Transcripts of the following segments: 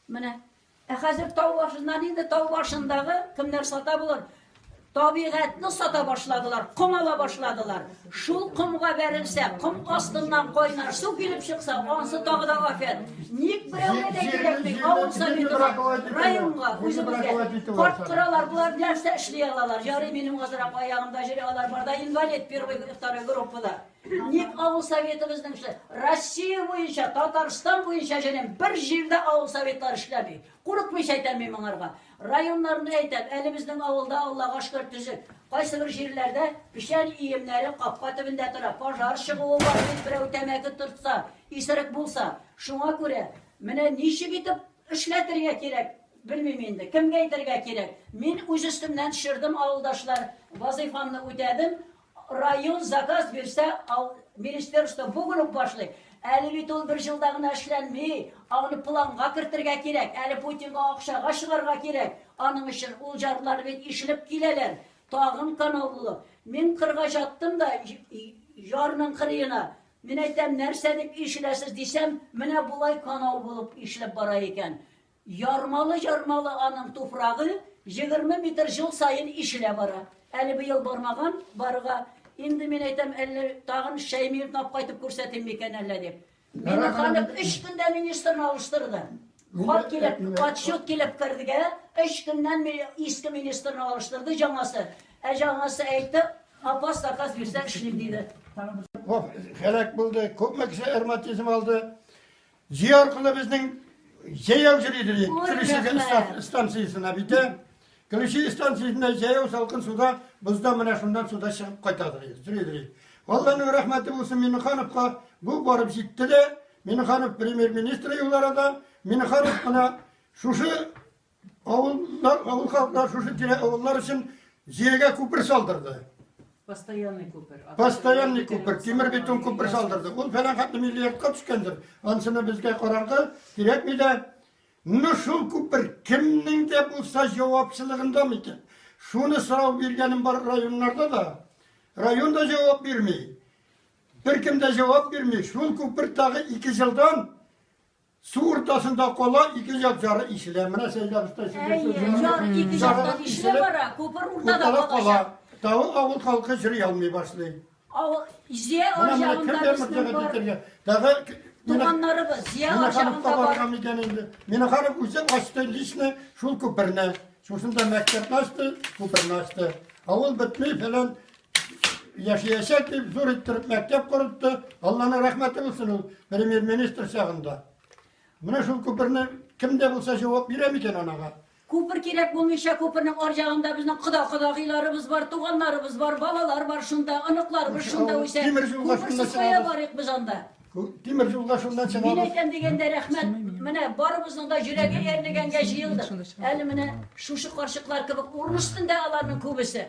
Менә. Ә хәзер тау башыннан инде тау башындагы кемнәр сата булыр? Табигатьне сата башладылар, ком ала башладылар. Шул комга бәрелсә, ком астыннан кайнар су килеп чыкса, ансы тагы да афәт. Ник берәүгә дә кирәкми, авыл советына, районга, үзебезгә. Карт кыралар, болар нәрсә эшли алалар? Ярый, минем азрак аягымда җире алар барда инвалид первый, второй группада. Ник авыл советы безнеңчә? Россия буенча, Татарстан буенча җенем, бер җирдә авыл советлары эшләми. Курыкмыйча әйтәм мин моңарга. Районнарны әйтәм, әле безнең авылда Аллага шөкер төзек. Кайсы бер җирләрдә печән иемнәре капка төбендә тора. Пожар чыгуы бар бит, берәү тәмәке тортса, исерек булса. Шуңа күрә менә ничек итеп эшләтергә кирәк, белмим инде. Кемгә әйтергә кирәк? Мин үз өстемнән төшердем, авылдашлар, вазыйфамны үтәдем. Район заказ бирсә, ал, министерство бүген үк башлый. Әле бит ул бер җылда гына эшләнми. Аны планга кертергә кирәк. Әле Путинга акчага чыгарга кирәк. Аның өчен ул җарлар бит ишелеп киләләр. Тагын канал булу. Мин кырга чаттым да җарның кырыена. Мин әйтәм, нәрсә дип ишеләсез дисәм, менә болай канал булып ишелеп бара икән. Ярмалы-ярмалы аның туфрагы, егерме метр җыл саен ишелә бара. Әле быел бармаган, барырга. Инде мин әйтәм, әллә тагын Шәйми юнап кайтып күрсәтим микән әллә дип. Миңнеханов өч көндә министрны алыштырды. Хат килеп, отчет килеп кергә, өч көннән ми- иске министрны алыштырды җаңасы. Ә җаңасы әйтте, апас заказ бирсәң эшлим, диде. Ваф- Һәлак булды, күпме кеше ревматизм алды. Җөй аркылы безнең җәяү җөри дилек. Көлүче станциясенә бит. Көлүче станциясенә җәяү салкын суда, бозда менә шуннан суда чыгып кайта дилек. Җөри дилек. Алланың рәхмәте булсын Миннехановка, бу барып җитте дә, Миннеханов премьер-министр юлларында, Миннеханов кына шушы Авыллар, авыл халыклар шушы тирә авыллар өчен җиргә күпер салдырды. Постоянный күпер. Постоянный күпер, тимер бетон күпер салдырды. Ул фәлән хәтле миллиардка төшкәндер. Ансына безгә караңгы, кирәкми дә. Ну шул күпер кемнең дә булса җавапчылыгында микән? Шуны сорау биргәнем бар районнарда да. Район да җавап бирми. Беркем дә җавап бирми. Шул күпер тагы ике җылдан Су уртасында кала, ике як җары ишелә. Менә Сәйдәр оста Ике жактан ишелә бара, күпер уртада кала. Тау авыл халкы җыр ялмый башлый. Авыл Зия аҗагында Тагы туганнарыбыз Зия аҗагында бар. Минаханов үзе ачты лично шул күперне. Шушында мәктәпне ачты, күперне ачты. Авыл бетми фәлән яшәячәк дип зур иттереп мәктәп корытты. Алланың рәхмәте булсын ул премьер-министр чагында. Менә шул күперне кем дә булса җавап бирә микән анага? Күпер кирәк булмыйча, күпернең арҗагында безнең кода-кодагыйларыбыз бар, туганнарыбыз бар, балалар бар шунда, оныкларыбыз шунда үсә. Күперсез кая барыйк без анда? Тимер юлга шунда чыгабыз. Мин әйтәм дигәндә рәхмәт. Менә барыбызның да йөрәге әрлегәнгә җыелдык. Әле менә шушы карчыклар кебек урын өстендә аларның күбесе.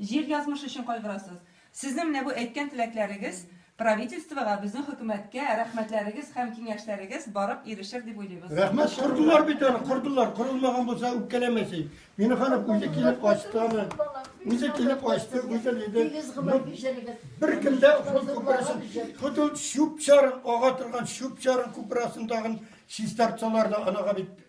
Җир язмышы өчен кайгырасыз. Сезнең менә бу әйткән теләкләрегез правительствога, безнең хөкүмәткә рәхмәтләрегез һәм киңәшләрегез барып ирешер дип уйлыйбыз. Рәхмәт, кордылар бит аны, кордылар, корылмаган булса үпкәләмә син. Минеханов үзе килеп ачты аны. Үзе килеп ачты, үзе диде. Бер көндә шул күперсен, худут чүп чарын, ага торган чүп чарын күпер астындагын чистартсалар да анага бит